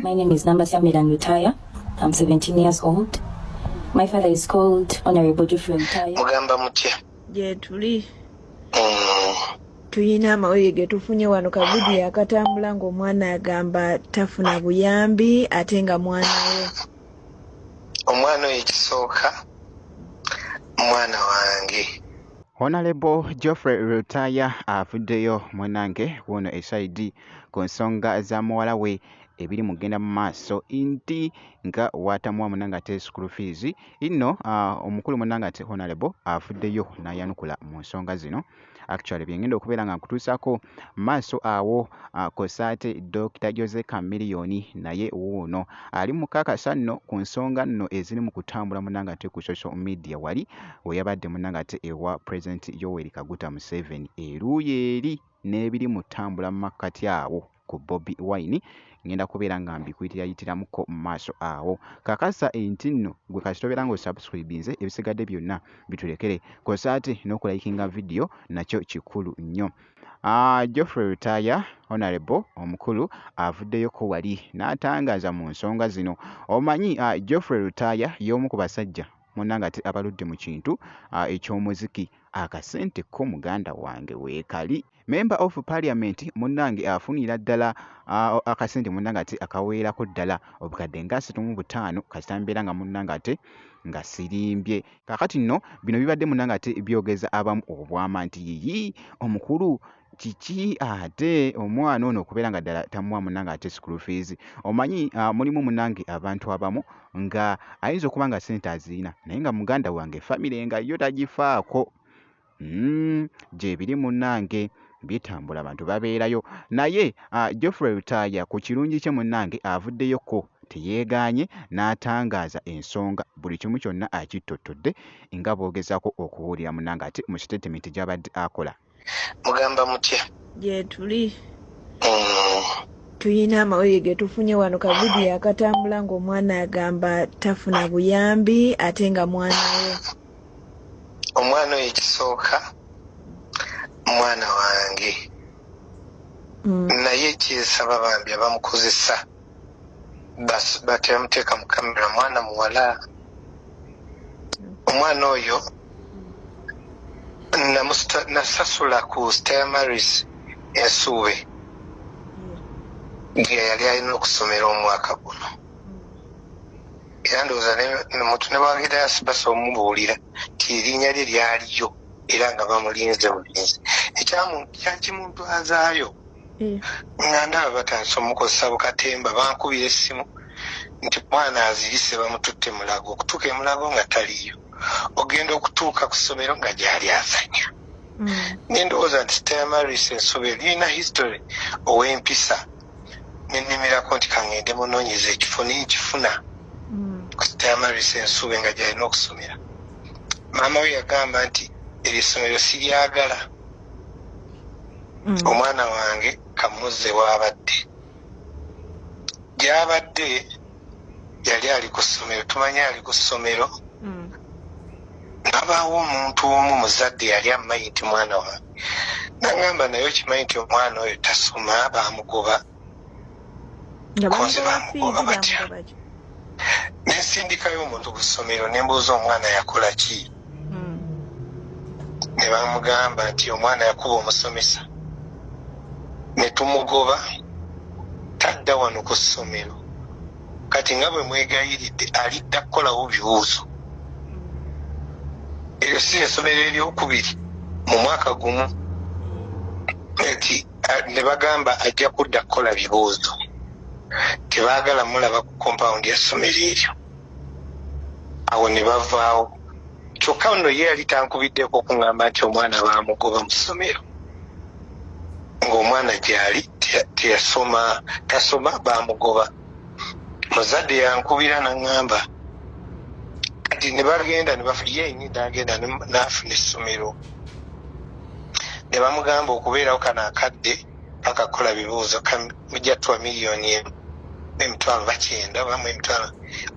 My name is Namba Samiran Lutaya. I'm 17 years old. My father is called Honorable Geoffrey Lutaya. Mugamba mutya? Gyetuli. Mm. Tuyina amawulire ge tufunye wano ka vidiyo akatambula ng'omwana agamba tafuna buyambi ate nga mwana we. Omwana oyo ekisooka mwana wange. Honalebo Geoffrey Lutaaya avuddeyo munange wuuno esaidi ku nsonga za muwala we ebiri mu kugenda mu maaso nti nga waatamuwa munange ate school fees inno uh, omukulu munange ate Honalebo avuddeyo n'ayanukula mu nsonga zino actually byengenda okubeera nga nkutuusako maaso awo uh, kosaate Dr Jose Chameleone naye wuuno ali mukakasa nno ku nsonga nno eziri mu kutambula munange ate ku social media wali weyabadde munange ate ewa president yoweri kaguta museveni eruuyi eri n'ebiri mu ttambula mu makkati awo ku bobi wine ngenda kubeera nga mbikuyitirayitiramuko mu maaso awo kakasa enti nno gwe kasitobeera nga osubscribinze ebisigadde byonna bitulekere kosa ate n'okulayikinga vidiyo nakyo kikulu nnyo ah, geoffrey rutaya honorable omukulu avuddeyoko wali n'atangaaza mu nsonga zino omanyi ah, geoffrey rutaya y'omu ku basajja munange ate abaludde mu kintu uh, eky'omuziki akasente ko muganda wange weekali member of parliament munange afunira ddala uh, akasente munange ate akaweerako ddala obukadde nga asatu mu butaano kasita mbeera nga munange ate nga sirimbye kakati nno bino bibadde munange ate byogeza abamu obwama nti yiyi omukulu kiki ate omwana ono okubeera nga ddala tamuwa munange ate school fees omanyi uh, mulimu munange abantu abamu nga ayinza okuba nga sente azirina naye nga muganda wange famire nga yo tagifaako mm, gyebiri munange bitambula abantu babeerayo naye uh, geoffrey lutaaya ku kirungi kye munange avuddeyoko teyeegaanye n'atangaaza ensonga buli kimu kyonna akittottodde nga boogezaako okubuulira munange ate mu sitatimenti gy'abadde akola mugamba mutya gyetuli mm. tuyina amawulire getufunye wano kavidiyo akatambula ngaomwana agamba tafuna buyambi ate nga mwana we omwana oyo ekisooka mwana wange mm. naye kyesaba bambi abamukozesa bateyamuteeka mu kamera mwana muwala omwana oyo nasasula ku stamaris ensuube gye yali alina okusomera omwaka guno era ndowooza muntu newagira yasibasa omubuulira nti erinnya lye lyaliyo era nga bamulinze bulinzi ekyakimuntwazaayo eh. nga ndaba batandise omukozesa bukatemba bankubira essimu nti mwana azirise bamututte mulago okutuuka emulago nga taliyo ogenda okutuuka ku ssomero nga gyali azanya mm. nendowooza nti temaris ensobe lirina history ow'empisa nenimirako nti kangende munonyeza ekifo nenkifuna mm. ku temaris ensobe nga gyalina okusomera maama we yagamba nti eryessomero siryagala mm. omwana wange kamuzze waabadde gyabadde yali ali ku ssomero tumanye ali ku ssomero mm. nabaawo omuntu omu muzadde yali amumanyi nti mwana wange nagamba naye okimanyi nti omwana oyo tasoma bamugoba konze bamugoba batya nensindikayo omuntu ku ssomero nembuuza omwana yakola ki hmm. ne bamugamba nti omwana yakuba omusomesa ne tumugoba tadda wano ku ssomero kati nga bwe mwegayiridde alidda kukolawo bibuuzo eryo si esomero eryokubiri mu mwaka gumu nti Ah, ne bagamba ajja kudda kukola bibuuzo tebaagala mulaba ku kompawundi ya ssomero eryo awo ne bavaawo kyokka nno ye yali tankubiddeko okuŋŋamba nti omwana baamugoba mu ssomero ng'omwana gyali teyasoma tasoma baamugoba muzadde yankubira naŋŋamba kati ne bagenda yenyini nagenda n'afuna essomero ne bamugamba okubeerawo kano akadde paka kukola bibuuzo mujja tuwa miliyoni emu emitwalo bakyenda obamu emitwalo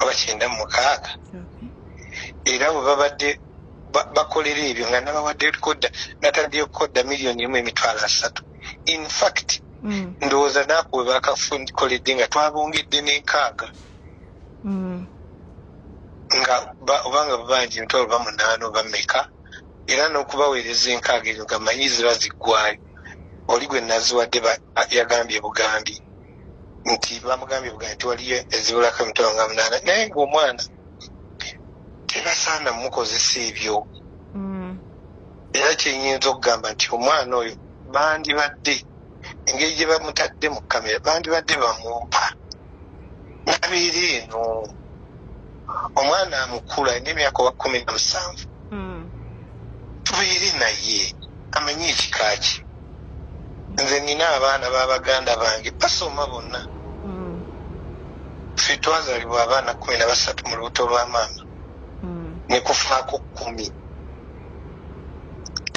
obakyenda mu mukaaga era bwe babadde bakolera ebyo nga nabawadde kodda nataddeyo okukodda miliyoni emu emitwalo asatu in fact mm. ndowooza naaku we bakakoledde nga twabongedde n'enkaaga mm. nga obanga babanja emitwalo bamunaana oba meka era n'okubaweereza enkaaga ezo nga manyi ziba ziggwayo oli gwe naziwadde yagambye bugambi nti bamugambye bugambi nti waliyo ezibulako emitwalo nga munaana naye ngaomwana tebasaana mukozesa ebyo mm. era kyenyinza okugamba nti omwana oyo bandibadde engeri gye bamutadde mu kamera bandibadde bamumpa nabiiri eno omwana amukulu alina emyaka wa kumi na musanvu hmm. tubeere naye amanye ekika kye nze nina abaana babaganda bange basoma bonna hmm. fe twazalibwa abaana kumi na basatu mu lubuto lwa maama hmm. nekufaako kumi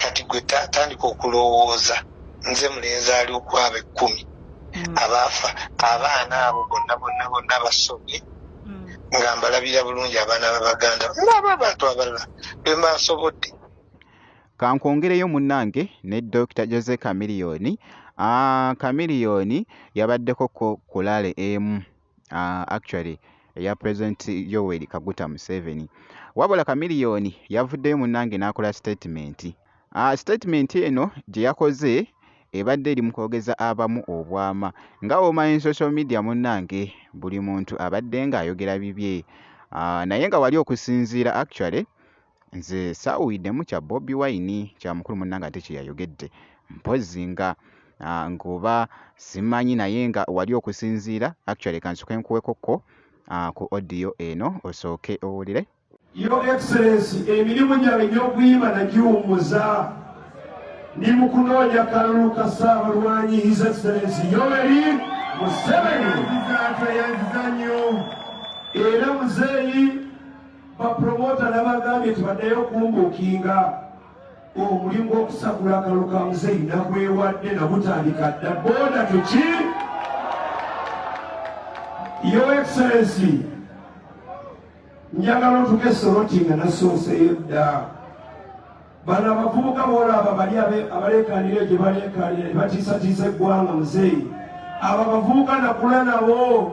kati gwe tandika okulowooza nze mulenzi ali okwaba ekkumi mm. abaafa abaana abo bonna bonna bonna basomye mm. nga mbalabira bulungi abaana babaganda naaba abantu abalala bembasobodde kankwongereyo munnange ne dokita jose kamiliyoni kamiliyoni yabaddeko ko kulale emu uh, actually eya president yoweri kaguta museveni wabula kamiliyoni yavuddeyo munnange n'akola statement uh, statement eno gye yakoze ebadde eri mu kwogeza abamu obwama nga womanyi social media munnange buli muntu abadde ng'ayogera bibye uh, naye nga wali okusinziira actually nze saawuyiddemu kya bobi wine kya mukulu munnange ate kye yayogedde mpozzi nga ah, ngoba simanyi naye nga wali okusinziira actually kansuke nkuwekokko ah, ku odiyo eno osooke owulire yo excellence emirimu gyange gy'okuyima nagiwummuza ndi mu kunoonya kalulu ka ssaabalwanyi his excellence yoweri museveni era muzeeyi bapromota nabagambye nti baddayo okumbuukinga omulimu gw'okusagula akalulu ka muzeeyi nagwewadde nagutandika dda boda tuki yo excellency njagala otuka esoroti nga nasooseyo dda bano abavubuka boolaba bali abaleekanira gye baleekanira ne batiisatiisa eggwanga muzeeyi abo abavubuka nakula nabo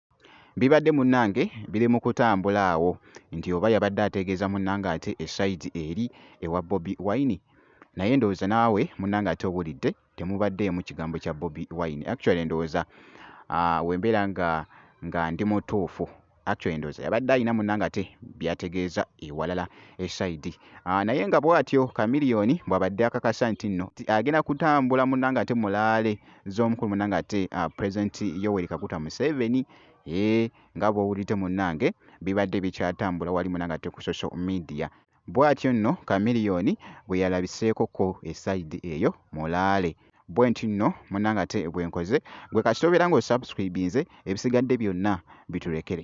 Bibadde munnange biri mu kutambula awo nti oba yabadde ategeeza munnange ate esayidi eri ewa Bobi Wine naye ndowooza naawe munnange ate owulidde temubaddeemu kigambo kya Bobi Wine. Actually ndowooza ah, we mbeera nga nga ndi mutuufu actually ndowooza yabadde alina munnange ate byategeeza ewalala esayidi ah, naye nga bw'atyo Chameleone bw'abadde akakasa nti nno agenda kutambula munnange ate mulaale. z'omukulu munange ate uh, president yoweri kaguta museveni ee eh, nga bwowulidde munange bibadde bikyatambula wali munange ate ku social media bwatyo nno kamiliyoni bwe yalabiseeko ko esaidi eyo mulaale bwe nti nno munange ate bwenkoze gwe kasita obeera nga osubscribinze ebisigadde byonna bitulekere